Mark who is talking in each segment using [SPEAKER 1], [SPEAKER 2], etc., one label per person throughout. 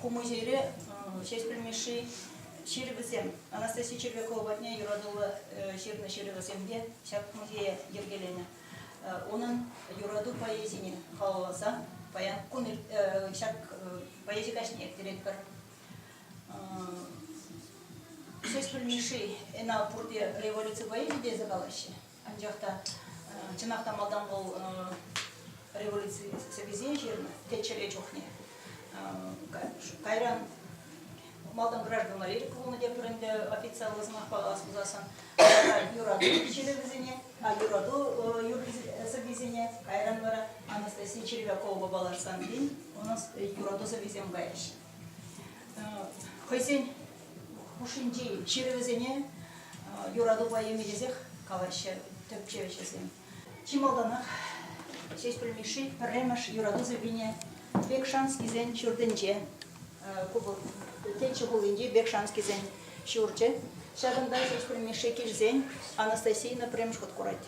[SPEAKER 1] Ку музейре Ҫеҫпӗл Мишши ҫырӑвӗсем, Анастасия Червякова патне юратуллӑ ҫырнӑ ҫырӑвӗсемпе ҫак музее йӗркеленӗ. Унӑн юрату поэзине халалласа паян кун ҫак поэзи каҫне ирттеретпӗр. Ҫеҫпӗл Мишши ӗна пурте революци поэзи тесе калаҫҫӗ. Анчах та, чӑнах та малтан вӑл революци сӑввисем ҫырнӑ теччӗре чухне. Кайран малтан граждан лирика пулнӑ тепӗр ӗнтӗ официаллӑ сӑмахпа калас пулсассӑн. юрату ҫырӗ вӗсене, а юрату юрри сӑввисене, кайран вара Анастасия Червяковӑпа паллашсан тин унӑн юрату сӑввисем кайрӗҫ. хӑйсен хушшинчи ҫырӑвӗсене юратупа емелесех калаҫҫӗ тӗпчев ӗҫӗсем. Чи малтанах Ҫеҫпӗл Мишши пӗрремӗш юрату сӑввине Бекшанскисен ҫуртӗнче, Теччӗ хулинчи Бекшанскисен ҫурчӗ, ҫакӑнта Ҫеҫпӗл Мишши килсен Анастасийна пӗрремӗш хут курать.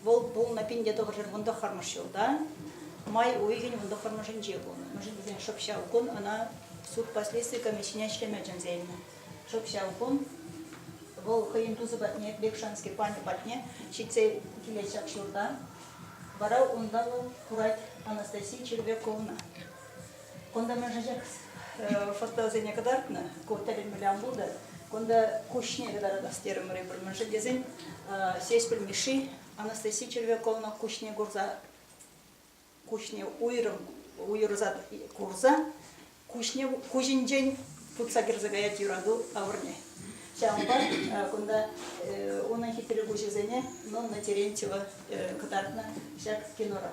[SPEAKER 1] Вӑл пулнӑ пин те тӑхӑршер вун тӑххӑрмӗш ҫулта. Май уйӑхӗн вун тӑххӑрмӗшӗнче пулнӑ. Мӗншӗн шӑп ҫав кун ӑна суд последстви комиссине ӗҫлеме чӗнсе илнӗ. Шӑп ҫав кун вӑл хӑйӗн тусӗ патне, Бекшанский панӗ патне ҫитсе килет ҫак ҫурта. Вара унта вӑл курать Анастасия Червяковна. Кунта мӗншӗнчек фотосене кӑтартнӑ, ку тӗлӗнмелле пултӑр. Кунта куҫне кӑтаратас терӗмӗр эпир мӗншӗн тесен Сеспель Мишши Анастасия Червяковна куҫне курса куҫне уйрӑм уйӑрса курса куҫне куҫӗнчен путса кӗрсе каять юрату авӑрне. Ҫавӑнпа кунта унӑн хитре куҫӗсене Нонна Терентьева кӑтартнӑ ҫак кинора.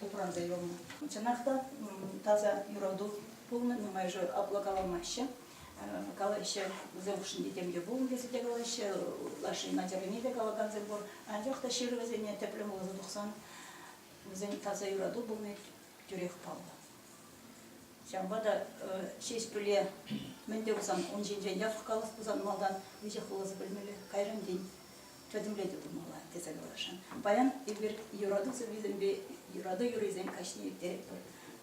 [SPEAKER 1] упранса юлнӑ. Чӑнах та таса юрату пулнӑ, нумайӑшӗ апла каламаҫҫӗ. Калаҫҫӗ, вӗсем хушшинче тем те пулнӑ тесе те калаҫҫӗ, лаши начаррине те калакансем пур. Анчах та ҫырӑвӗсене тӗплӗн вуласа тухсан вӗсен таса юрату пулни тӳрех паллӑ. Ҫавӑнпа та Ҫеҫпӗле мӗн те пулсан ун ҫинчен яхӑн калас пулсан малтан веҫех вуласа пӗлмелле, кайран тин пӗтӗмлетӳ тумалла тесе каласшӑн. Паян эпир юрату сӑввисемпе юрату юррисем каҫне ирттеретпӗр.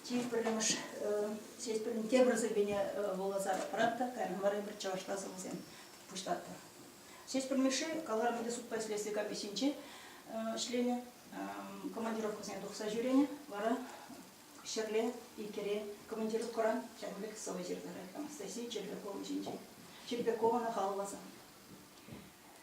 [SPEAKER 1] Чи пӗрремӗш Ҫеҫпӗлӗн тепӗр сӑввине вуласа пырап та кайран вара эпир чӑвашла сӑвӑсем пуҫлатпӑр. Ҫеҫпӗл Мишши каларӑмӗнче судпа ӗҫлесси капи ҫинче ӗҫленӗ, командировкӑсене тухса ҫӳренӗ, вара ҫӗрле, икере командировкӑран ҫакӑн пек сӑвӑ ҫырнӑ рекламӑсси Черпяковӑн ҫинче. Черпякова халалласа.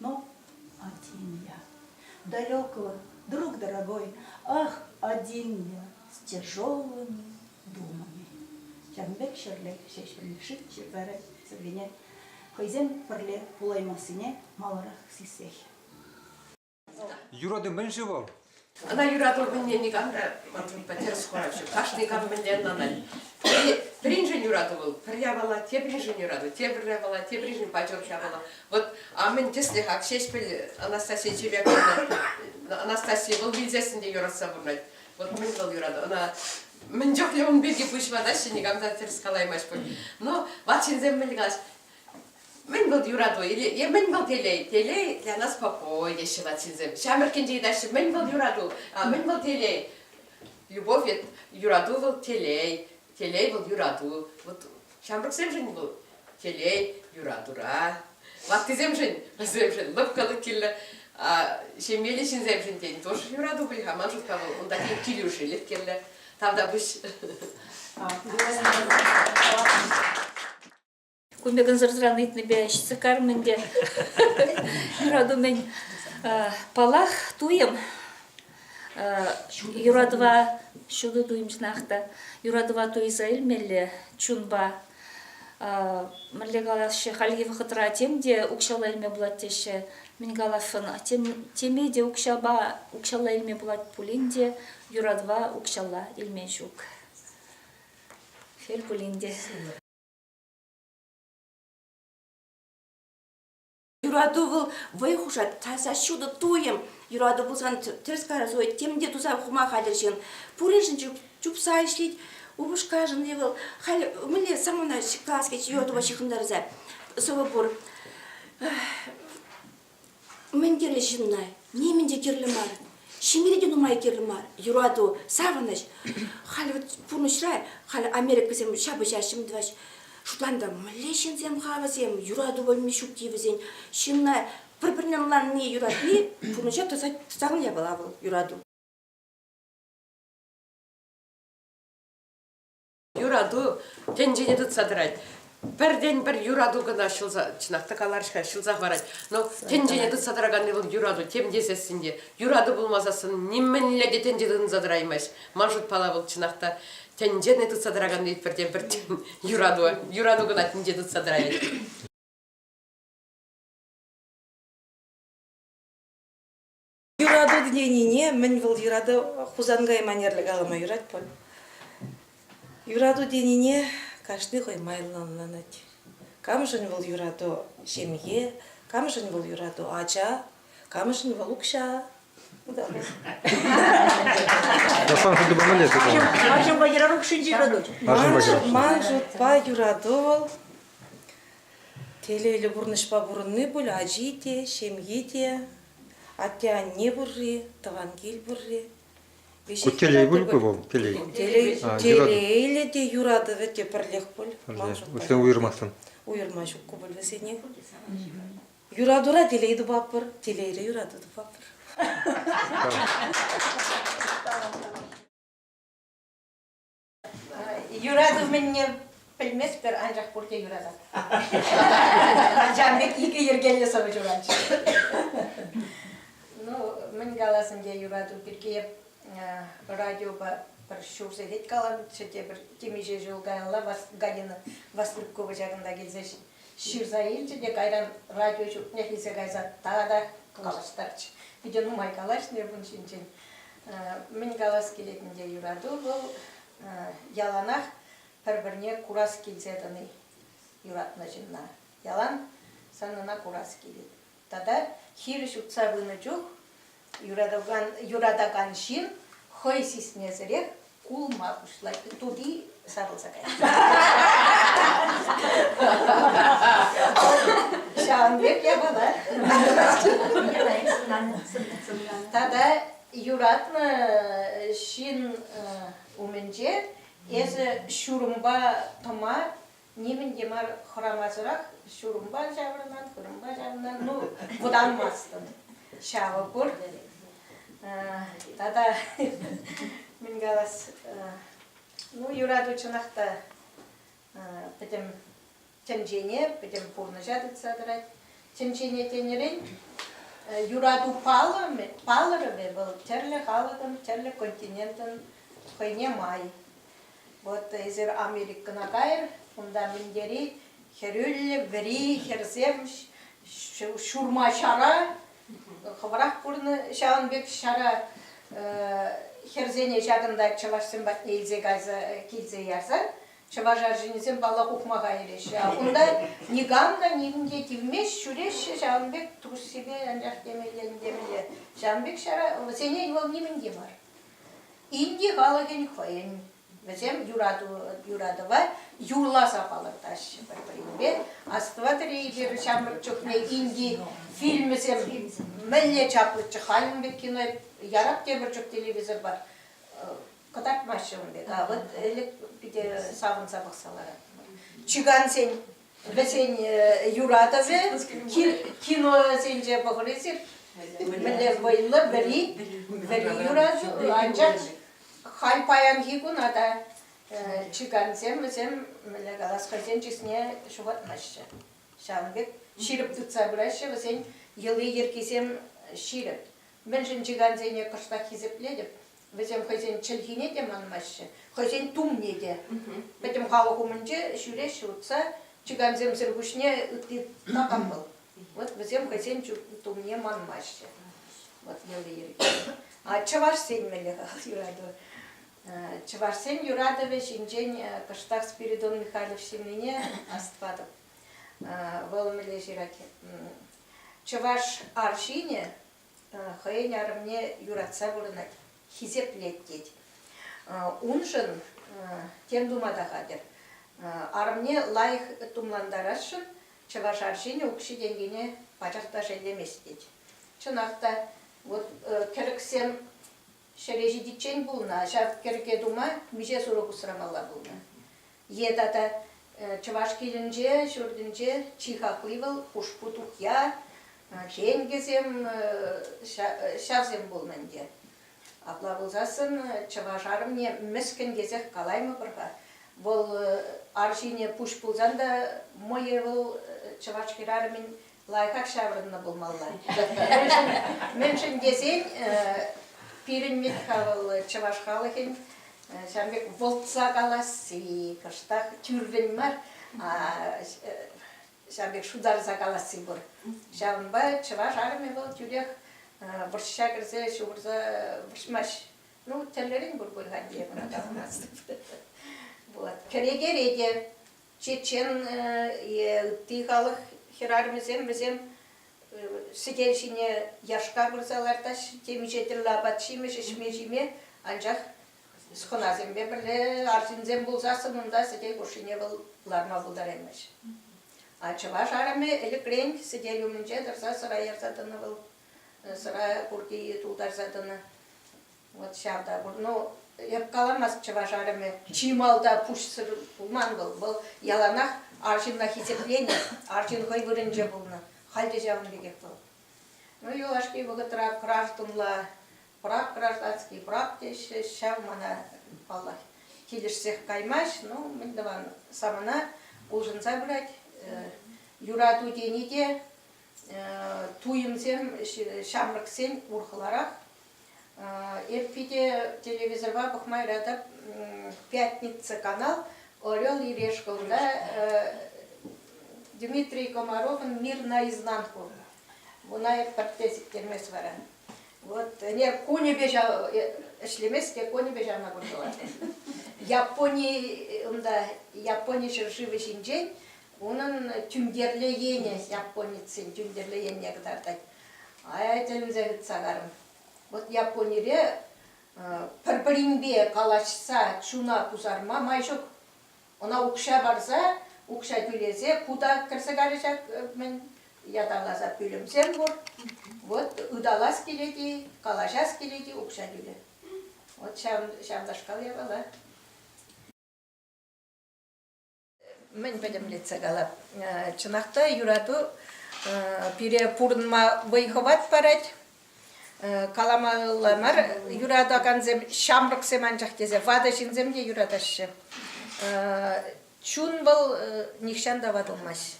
[SPEAKER 1] Ну, один я. Далекого, друг дорогой, ах, один я, с тяжелыми думами. Ҫавӑн ҫӗрле ҫеҫеллешит ҫӗрпәрі сӗргене хӑйсем пӗрле пулаймассине маларах сиссех.
[SPEAKER 2] Юрату мӗн-ши вӑл? Ӑна юрату
[SPEAKER 3] кунне никам та мӑнтиппа тӗрӗс кураҫҫӗ. Кашни кам мӗнле ӑнланать. Пӗри, пӗриншӗн юрату вӑл, пӗр япала теприншӗн юрату, тепӗр япала теприншӗн патерх япала. Вот а мӗн тӗслӗх Ҫеҫпӗл Анастасия Чебяковна Анастасия вӑл вилсессӗн те юратса пурӑнать. Вот мӗн вӑл юрату. Ӑна мӗн чухлӗ ун пирки пуҫ ватаҫҫӗ, никам та тӗрӗс калаймасть пуль. Но ват ҫынсем мӗн калаҫ, Мӗн вӑл юрату? Е мӗн вӑл телей? Телей для нас покой, теҫҫӗ латинсем. Ҫамрӑккинче ыйтаҫҫӗ, мӗн вӑл юрату? Мӗн вӑл телей? Любовь вет, юрату вӑл телей, телей вӑл юрату. Вот ҫамрӑксемшӗн вӑл телей юратура, ваттисемшӗн, вӗсемшӗн лӑпкӑлӑх кирлӗ. Ҫемьеллӗ ҫынсемшӗн тен тоже юрату пуль-ха. Ман шутпа вӑл унта тен килӗшӳлӗх кирлӗ. Тавтапуҫ.
[SPEAKER 2] Кун пек ӑнсӑртран ыйтнипе ҫитсе кармӑн ӗнтӗ. Юрату палах туйӑм. Юратӑва ҫутӑ туйӑмсӑрах та юратӑва туйса илмелле чунпа. Мӗнле калаҫҫӗ, хальхи вӑхӑтра тем те укҫалла илме пулать теҫҫӗ. Мӗн калассӑн, теме те укҫапа укҫалла илме пулать пулин те юратӑва укҫалла илме ҫук. Шел пулин те.
[SPEAKER 4] Юрату вӑл вӑй хушать, таса ҫутӑ туйӑм. Юрату пулсан тӗрӗс каласа хывать, тем те туса хума хатӗр ҫын. Пуриншӗн чупса ӗҫлет. Упӑшкашӑн-и вӑл халь мӗнле самана класс кӗчӗ йӑлтӑва ҫыхӑнтарса сӑвӑ пур. Мӗн кирлӗ ҫынна? Нимӗн те кирлӗ мар. Ҫемьере те нумай кирлӗ мар. Юрату, савӑнӑҫ. Халь вот пурнӑҫра халь Америкӑсем ҫапӑҫа ҫӗм тӑваҫ. Шутланта мӗнле ҫынсем-ха вӗсем? Юрату пӗлми ҫукки вӗсен. Ҫынна пӗр-пӗрне ӑнланни, юратни пурнӑҫа тӑсать, тӑсакан япала вӑл, юрату.
[SPEAKER 3] юрату тӗнчене тытса тӑрать. Пӗртен-пӗр юрату кӑна ҫӑлса, чӑнах та каларӗҫ-ха, ҫӑлса хӑварать. Но тӗнчене тытса тӑраканни вӑл юрату, тем тесессӗн те, юрату пулмасассӑн нимӗнле те тӗнче тытӑнса тӑраймасть. Ман шутпала вӑл чӑнах та тӗнчене тытса тӑраканни пӗртен-пӗр юрату, юрату кӑна тӗнче тытса тӑрать.
[SPEAKER 5] Юрату тенине мӗн вӑл юрату Хусан кайманерле калама юрать пуль. Юрату тенине кашни хӑй майлӑ ӑнланать. Камшӑн вӑл юрату ҫемье, камшӑн вӑл юрату ача, камшӑн вӑл укҫа.
[SPEAKER 6] Асан шутупа мӗнле-ши? Арҫынпа юрату укҫинче
[SPEAKER 1] юрату. Ман
[SPEAKER 5] шутпа юрату вӑл телейлӗ пурнӑҫпа пурӑнни пуль ачи те, ҫемйи те, Атте-анне пурри, тӑван кил пурри. Ку телей
[SPEAKER 6] пуль ку вӑл? Телей. Телейлӗ
[SPEAKER 5] те юратӑвӗ те пӗрлех пуль. Вӗсен уйӑрмастӑн.
[SPEAKER 6] Уйӑрма ҫук ку пуль
[SPEAKER 5] вӗсене. Юратура телей тупатпӑр, телейре юрату тупатпӑр.
[SPEAKER 1] Юрату мӗнне пӗлместпӗр, анчах пурте юратать. Ачам пек икӗ йӗркеллӗ сӑвӑ ҫуратчӗ. Ну, мӗн каласӑм те, юрату пирки радиопа пӗр ҫул сехет каланчӗ те, пӗр темиҫе ҫул каялла Галина Вастрюкова ҫакӑнта килсе ҫырса илчӗ те кайран радио ҫуртнех илсе кайса тата калаштарчӗ. Питӗ нумай калаҫнӑ эп ун ҫинчен. Мӗн калас килет ӗнтӗ, юрату вӑл яланах пӗр-пӗрне курас килсе тӑни, юратнӑ ҫынна. Ялан санӑна курас килет. Тата хирӗҫ утса пынӑ чух юратакан, юратакан ҫын хӑй сисмесӗрех кулма пуҫлать, тути сарӑлса каять. Ҫавӑн пек япала. Тата юратнӑ ҫын умӗнче эсӗ ҫурӑмпа тӑма нимӗн те мар хӑрамасӑрах ҫурӑмпа ҫаврӑнат, вырӑнпа ҫаврӑнат, ну, вӑтанмастӑн. Ҫавӑ пур. Тата мӗн калас, ну, юрату чӑнах та пӗтӗм тӗнчене, пӗтӗм пурнӑҫа тытса тӑрать. Тӗнчене тенӗрен, юрату палӑрӑвӗ вӑл тӗрлӗ халӑхӑн, тӗрлӗ континентӑн хӑйне май. Вот эсир Америкӑна кайӑр, унта минтери хӗрӳллӗ вӗри хӗрсем ҫурма ҫара, хӑвӑрах курнӑ ҫавӑн пек ҫара хӗрсене ҫакӑнта чӑвашсем патне илсе кайса килсе ярса чӑваш арҫынӗсем паллах ухма кайрӗҫ. А кунта никам та никам те тивмест, ҫӳреҫҫӗ ҫавӑн пек труссипе анчах темелле, темелле. Ҫавӑн пек ҫара вӗсене вӑл нимӗн те мар. Инди халӑхӗн хӑйӗн вӗсем юратӑва юрласа палӑртаҫҫӗ пӗр-пӗринпе. Астӑватӑр-и эпир ҫамрӑк чухне инди фильмӗсем мӗнле чаплӑччӗ халӗн пек кино ярап тепӗр чух телевизорпа кӑтартмаҫҫӗ ун пек. А вот ӗлӗк питӗ савӑнса пӑхса ларатпӑр. Чикансен вӗсен юратӑвӗ киносенче пӑхрисем мӗнле вӑйлӑ вӗри вӗри юрату анчах халь паянхи куна та чикансем вӗсем мӗнле калас хӑйсен чысне ҫухатмаҫҫӗ ҫавӑн пек ҫирӗп тытса пыраҫҫӗ вӗсен йӑли-йӗркисем ҫирӗп мӗншӗн чикансене кӑштах хисеплетӗп Вӗсем хӑйсен чӗлхине те манмаҫҫӗ, хӑйсен тумне те. Пӗтӗм халӑх умӗнче ҫӳреҫҫӗ утса, чикансемсӗр пуҫне ытти такам вӑл. Вот вӗсем хӑйсен тумне манмаҫҫӗ. Вот йӑли-йӗрки. Чӑвашсен мӗнле юрату? Чӑвашсен юратӑвӗ ҫинчен кӑштах Спиридон Михайлов ҫырнине астӑватӑп. Вӑл мӗнле ҫырать? Чӑваш арҫынӗ хӑйӗн арӑмне юратса пурӑнать, хисеплет тет. Уншӑн тем тума та хатӗр. Арӑмне лайӑх тумлантарасшӑн чӑваш арҫынӗ укҫи-тенкине пачах та шеллемест тет. Чӑнах та, вот кӗрӗксем Ҫӗре ҫитиччен пулнӑ ҫав кӗрке тума миҫе сурӑх усрамалла пулнӑ е тата чӑваш килӗнче, ҫуртӗнче чи хакли вӑл хушпу тухья, феньгӗсем, ҫавсем пулнӑ ӗнтӗ. Апла пулсассӑн чӑваш арӑмне мӗскӗн тесех калаймӑпӑр-ха. Вӑл арҫине пуҫ пулсан та мӑйӗ вӑл чӑваш хӗрарӑмӗн лайӑхах ҫаврӑннӑ пулмалла. Мӗншӗн тесен пирӗн Митха вӑл чӑваш халӑхӗн ҫавӑн пек вӑлтса каласси, кӑштах тӳррӗн мар, ҫавӑн пек шутарса каласси пур. Ҫавӑнпа чӑваш армии вӑл тӳрех вӑрҫа кӗрсе ҫухӑрса вӑрҫмасть. Ну, тӗллерен пур пуль Ханьдиевӑна таврӑнас. Вот. Кӗрекере те чечен е ытти халӑх хӗрарӑмӗсем вӗсем сӗтел ҫине яшка пырса лартаҫҫӗ темиҫе тӗллӗ апат-ҫимӗҫ ӗҫме-ҫиме анчах хӑнасемпе пӗрле арҫынсем пулсассӑн унта сӗтел хушшине вӑл ларма пултараймаҫ. А чӑваш арӑмӗ ӗлӗкрен сӗтел умӗнче тӑрса сӑра ярса тӑнӑ вӑл, сӑра курки тултарса тӑнӑ. Вот ҫав та пур. Ну, эп каламас чӑваш арӑмӗ. Чи малта пуҫсӑр пулман вӑл. Вӑл яланах арҫынна хисепленӗ, арҫын хӑй вырӑнче пулнӑ. Халь те ҫавӑн пекех вӑл. Ну, юлашки вӑхӑтра гражданла прав, гражданский прав теҫҫӗ. Ҫав мана, паллах, килӗшсех каймасть. Ну, мӗн тӑван, самана улшӑнса пырать. Юрату тени те туйӑмсем, ҫамрӑксен урӑхларах. Эп питӗ телевизорпа пӑхма юратап «Пятница» канал «Орел и решкӑлда» Дмитрий Комаровӑн «Мир наизнанку». Вуна эп пӗртте сиктермест вара. Вот ӗнер кунӗпе ҫав ӗҫлемест те кунӗпе ҫавна курса лартӑм. Япони унта Япони ҫӗршывӗ ҫинчен унӑн тӳнтерлӗ енӗ японецсен тӳнтерлӗ енне кӑтартать. Ая тӗлӗнсе тытса карӑм. Вӑт Японире пӗр-пӗринпе калаҫса чуна пусарма май ҫук. Ӑна укҫа парса, укҫа тӳлесе кута кӗрсе карӗ ҫак мӗн ятарласа пӳлӗмсем пур. Вот ыталас килет-и, калаҫас килет-и укҫа тӳле. Вот ҫав, ҫавнашкал япала. мӗн пӗтӗмлетсе калап. Чӑнах та юрату пире пурӑнма вӑй-хӑват парать. Каламалла мар, юратакансем ҫамрӑксем анчах тесе ватӑ ҫынсем те юратаҫҫӗ. Чун вӑл нихҫан та ватӑлмасть.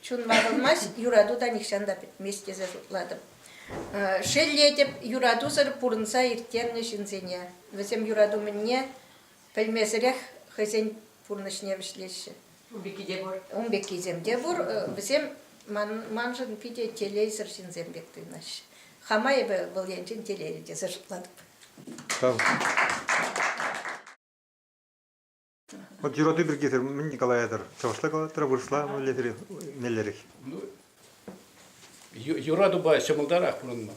[SPEAKER 1] Чун ватӑлмасть, юрату та нихҫан та пӗтмест тесе шутлатӑп. Шеллетӗп юратусӑр пурӑнса ирттернӗ ҫынсене. Вӗсем юрату мӗнне Пӗлмесӗрех хӑйсен пурнӑҫне вӗҫлеҫҫӗ. Ун пекки те пур. Ун пеккисем те пур. Вӗсем маншӑн питӗ телейсӗр ҫынсем пек туйӑнаҫҫӗ. Хама эпӗ вӑл енчен телейлӗ тесе шутлатӑп. Вот
[SPEAKER 6] юрату пиркисӗр мӗн калаятӑр? Чӑвашла калаттӑр, вырӑсла мӗнлерех? меллерех? Ну,
[SPEAKER 7] юратупа ҫӑмӑлтарах пурӑнма.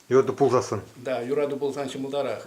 [SPEAKER 7] Юрату пулсассӑн?
[SPEAKER 6] Да,
[SPEAKER 7] юрату пулсан ҫӑмӑлтарах.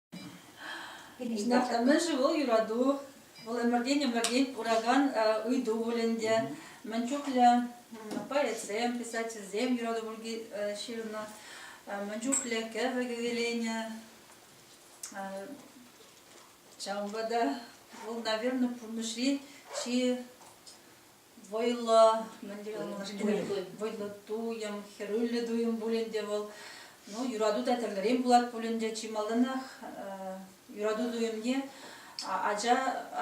[SPEAKER 2] Ҫинах мӗншӗн вӑл юрату, вӑл ӗмӗртен-ӗмӗртен пуракан ыйту пуль ӗнтӗ. Мӗн чухлӗ поэтсем, писательсем юрату пирки ҫырнӑ, мӗн чухлӗ кӗвӗ кӗвӗленӗ. Ҫавӑнпа та вӑл, наверное, пурнӑҫри чи вӑйлӑ, мӗн тери вӑйлӑ туйӑм, хӗрӳллӗ туйӑм пулин те вӑл, ну, юрату та тӗрлӗрен пулать пулин те чи малтанах юрату туйӑмне ача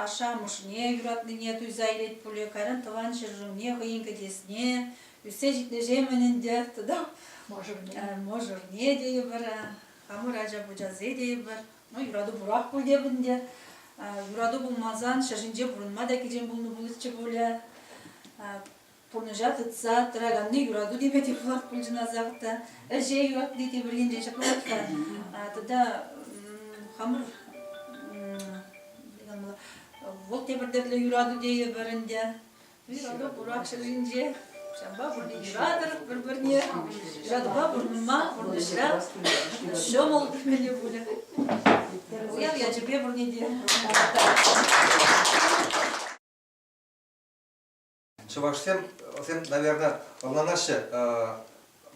[SPEAKER 2] ашшӗ-амӑшне юратнине туйса илет пулӗ, кайран тӑван ҫӗршывне хӑйӗн кӗтесне, ӳссе ҫитнӗҫемӗн ӗнтӗ тата мӑшӑрне, мӑшӑрне тейӗпӗр, хамӑр ача пӑчасе тейӗпӗр. Ну, юрату пурах пуль те ӗнтӗ. Юрату пулмасан ҫӗр ҫинче пурӑнма та кичем пулнӑ пулӗччӗ пулӗ. Пурнӑҫа тытса тӑраканни юрату теме те пулах пуль чӑнасах та. Ӗҫе юратни те пӗринчен ҫаплах та. Тата хамӑр вот те пӗртеклӗ юрату тейӗпӗр ӗнтӗ. Ҫакӑ Бурак ҫӗрӗнче. Ҫавӑнпа пурне юратӑр
[SPEAKER 8] пӗр-пӗрне. Юратупа пурӑнма пурнӑҫра ҫӑмӑл темелле пулӗ. Уяв ячӗпе пурне те Чӑвашсем, вӗсем, наверное, ӑнланаҫҫӗ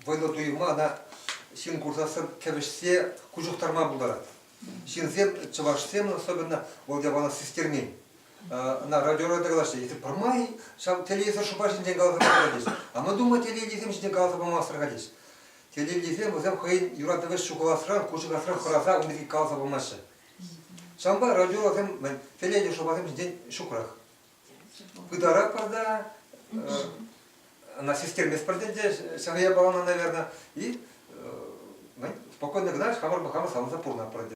[SPEAKER 8] вӑйлӑ туйӑма, ӑна ҫын курсассӑн кӗвӗҫсе куҫ ухтарма пултарать. Ҫынсем, чӑвашсем особенно, вӑл япала систермен. ӑна радиора тӑкалаҫҫӗ. Эсир пӗрмай ҫав телевизор шӑпа ҫинчен каласа пама тӗллес. Ӑнӑтума телейлисем ҫинчен каласа памасӑр калес. Телейлисем вӗсем хӑйӗн юратӑвӗ ҫухаласран, кушӑкасран хӑраса ун пирки каласа памаҫҫӗ. Ҫавӑнпа радиорасем телейлӗ шӑпасем ҫинчен ҫукрах. Пытаратпӑр та, она систерместпӗр тенче, ҫав япалана, наверное, и спокойно гнать хамӑр хамӑр савӑнса пурӑнатпӑр.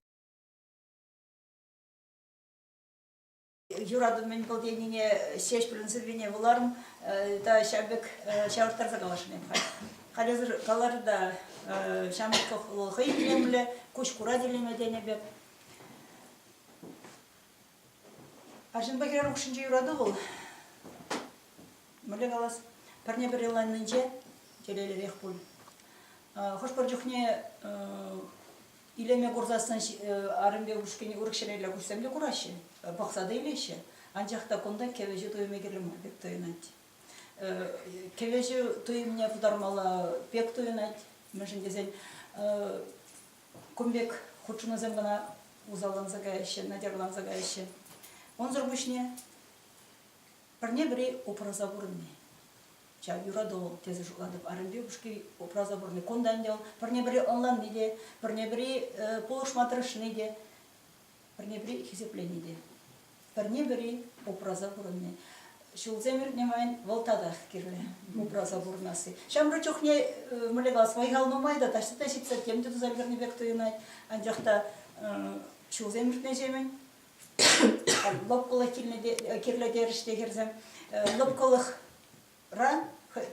[SPEAKER 1] юратӑвӑмӗн кӑл тенине Ҫеҫпӗлӗн сӑввине вуларӑм та ҫав пек ҫавӑрттарса каласшӑн эпӗ халь. Халӗсӗр калар та ҫамрӑк хӑй илемлӗ, куҫ курать илеме тенӗ пек. Арҫынпа хӗрар хушшинче юрату вӑл. Мӗнле калас, пӗрне-пӗр йӑланнинче телейлӗрех пуль. Хӑш-пӗр чухне Илеме курсассӑн арӑмпе ушкӑнӗ урӑх ҫӗрелле куҫсем те кураҫҫӗ, пӑхса та илеҫҫӗ. Анчах та кунта кӗвӗҫӳ туйӑмӗ кирлӗ мар пек туйӑнать. Кӗвӗҫӳ туйӑмне пытармалла пек туйӑнать, мӗншӗн тесен кун пек хутшӑнусем кӑна усалланса каяҫҫӗ, натярланса каяҫҫӗ. Унсӑр пуҫне пӗрне-пӗри упраса пурӑнни. ҫав юрату тесе шутлатӑп. Арӑмпи упӑшки упраса пурӑнни кунта ӗнтӗ вӑл пӗрне-пӗри ӑнланни те, пӗрне-пӗри пулӑшма тӑрӑшни те, пӗрне-пӗри хисеплени те. Пӗрне-пӗри упраса пурӑнни. Ҫулсем иртнӗ майӑн вӑл татах кирлӗ упраса пурӑнасси. Ҫамрӑк чухне мӗнле калас, вӑй-хал нумай та, таҫта ҫитсе тем те туса ӗлкӗрнӗ пек туйӑнать. Анчах та ҫулсем иртнӗҫемӗн лӑпкӑлӑх кирлӗтерӗш те хӗрсем. Лӑпкӑлӑхра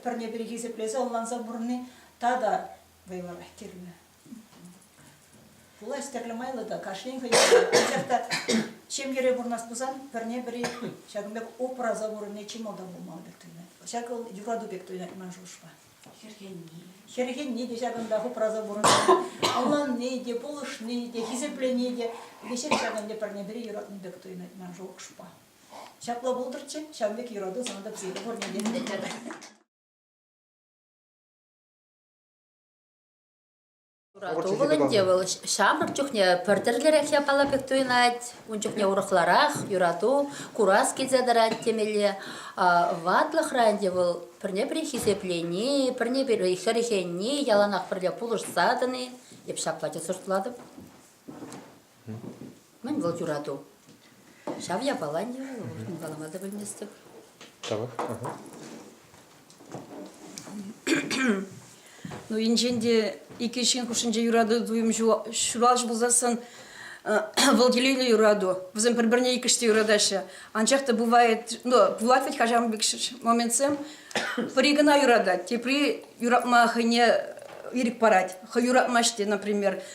[SPEAKER 1] пӗрне-пӗри хисеплесе, ӑнланса пурӑнни тата вӑйлӑрах кирлӗ. Пулас тӗрлӗ майлӑ та кашнин хӑй анчах та ҫемьере пурӑнас пулсан пӗрне-пӗри ҫакӑн пек упраса пурӑнни чи малтан пулмалла пек туйӑнать. Ҫак вӑл юрату пек туйӑнать ман шухӑшпа. Хӗрхенни те ҫакӑнтах упраса пурӑнать. Ӑнланни те, пулӑшни те, хисеплени те веҫех ҫакӑн те пӗрне-пӗри юратнӑ пек туйӑнать ман шухӑшпа. Ҫапла пултӑрччӗ, ҫавӑн пек юрату сан та псире пурне те ӗнентерӗ.
[SPEAKER 9] Ывӑлӑм те вӑл ҫамрӑк чухне пӗр тӗрлӗрех япала пек туйӑнать. Ун чухне урӑхларах юрату, курас килсе тӑрать темелле. Ватлӑхра ӗнтӗ вӑл пӗрне-пӗри хисеплени, пӗрне-пӗри хӗрхенни, яланах пӗрле пулӑшса тӑни. Эп ҫапла те сӑртлатӑп. Мӗн вӑл юрату? Ҫав япала не калама та пӗлместӗп. Тавах.
[SPEAKER 10] Ну енчен те икӗ ҫын хушшинче юрату туйӑм ҫуралчӗ пулсассӑн вӑл телейлӗ юрату. Вӗсем пӗр-пӗрне иккӗш те юратаҫҫӗ. Анчах та бывает, ну, пулать вӗт хашам пек моментсем. Пӗри кӑна юратать, тепри юратма хӑйне ирӗк парать. Хӑй юратмасть те, например.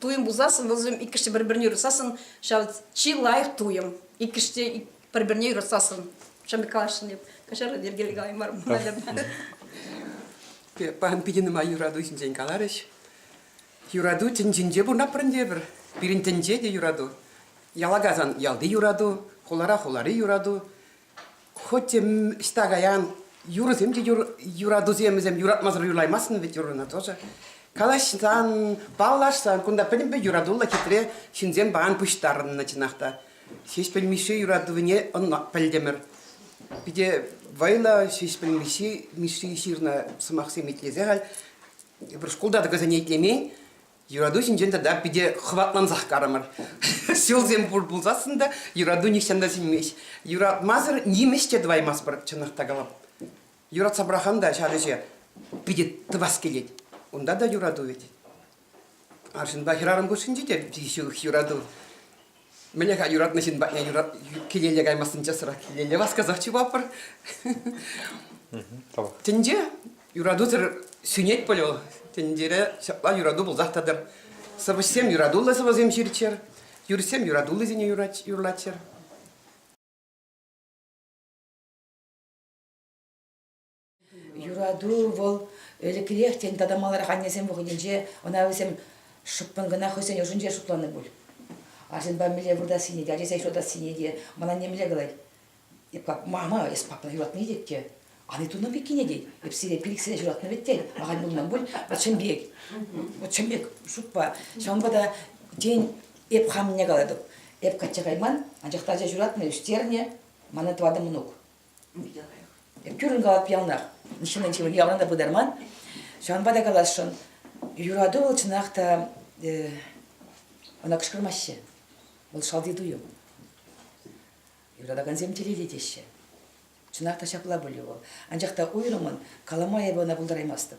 [SPEAKER 10] туйӑм пулсассӑн вӑл иккӗшне пӗр-пӗрне юратсассӑн ҫав чи лайӑх туйӑм иккӗшне пӗр-пӗрне юратсассӑн ҫавӑн пек калаҫҫӑн эп каҫарӑн йӗркелле калаймар мар наверное
[SPEAKER 11] паян питӗ нумай юрату ҫинчен каларӗҫ юрату тӗнчинче пурӑнатпӑр те пӗр пирӗн тӗнче те юрату яла кайсан ялти юрату хулара хулари юрату Хуть ӑҫта каян, юрӑсем те юратусемсем юратмасӑр юрлаймастӑн вӗт юрӑна тоже. Калаҫсан, паллашсан кунта пӗтӗмпе юратуллӑ хитре ҫынсем паян пуҫтарӑннӑ чӑнах та. Ҫеҫпӗл Мишши юратӑвне ӑна пӗлтӗмӗр. Питӗ вӑйлӑ Ҫеҫпӗл Мишши, Мишши ҫырнӑ сӑмахсем итлесе халь эпир шкулта та кӑсене итлемен. Юрату ҫинчен тата питӗ хӑватлансах карӑмӑр. Ҫулсем пур пулсассӑн та юрату нихҫан та сӳнмест. Юратмасӑр нимӗҫ те тӑваймастпӑр, чӑнах та калап. Юратса пӑрахан та ҫав ӗҫе питӗ тӑвас килет. Унта та юрату вӗт. Арҫынпа хӗрарӑм хушшинче те ҫывӑх юрату. Мӗне-ха юратнӑ ҫын патне юрат килелле каймассӑн часрах килелле васкасах чупапӑр. Тӗнче юратусӑр сӳнет пуль вӑл. Тӗнчере ҫапла юрату пулсах тӑтӑр. Сӑвӑҫсем юратуллӑ сӑвӑсем ҫырччӑр, юрӑҫсем юратуллисене юрлаччӑр.
[SPEAKER 4] Юрату вӑл ӗлӗкрех, тен, тата маларах аннесем вӑхӑтӗнче ӑна вӗсем шӑппӑн кӑна хӑйсен ӑшӗнче шутланӑ пуль. Арҫынпа мӗнле выртассине те, ачасем ҫутатассине те ман анне мӗнле калать? Эп как мама, эс папана юратни тет те, ан ит унӑн пеккине тет. Эп сире пилӗксене ҫуратнӑ вӗт тет. Ахаль пулман пуль, вӑт чӑн пек. Вӑт чӑн пек шутпа. Ҫавӑнпа та, тен, эп хам мӗне калатӑп. Эп качча кайман, анчах та ача ҫуратнӑ, ӳстернӗ, мана тӑватӑ мӑнук. Тӳрін калап ялнах. Ҫыннӑн ҫывӑх ялан та пытарман. Ҫавӑнпа та каласшӑн, юрату вӑл чӑнах та ӑна кӑшкӑрмаҫҫӗ. Вӑл шалти туйӑм. Юратакансем телейли теҫҫӗ. Чӑнах та ҫапла пулӗ вӑл. Анчах та уйрӑммӑн калама эпӗ ӑна пултараймастӑп.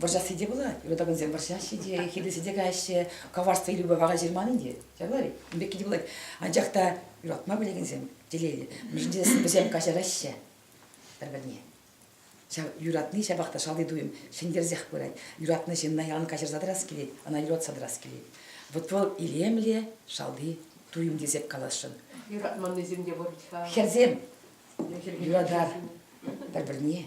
[SPEAKER 4] Вӑрҫасси те пулать, юратакансем вӑрҫаҫҫӗ те, хитресе те каҫҫӗ, коварство илӳпе вара ҫырман ӗнтӗ. Ҫавна ун пекки те пулать. Анчах та юратма пӗлекенсем телейлӗ. Мӗншӗн тесен вӗсем каҫараҫҫӗ пӗр-пӗрне. Ҫав юратни ҫапах та шалти туйӑм ҫӗнтерсех пырать. Юратнӑ ҫынна ялан каҫарса тӑрас килет, ӑна юратса тӑрас килет. Вот вӑл илемле шалти туйӑм тесех каласшӑн. Юратманнисем
[SPEAKER 3] те пур-ха. Хӗрсем
[SPEAKER 4] юратар пӗр-пӗрне.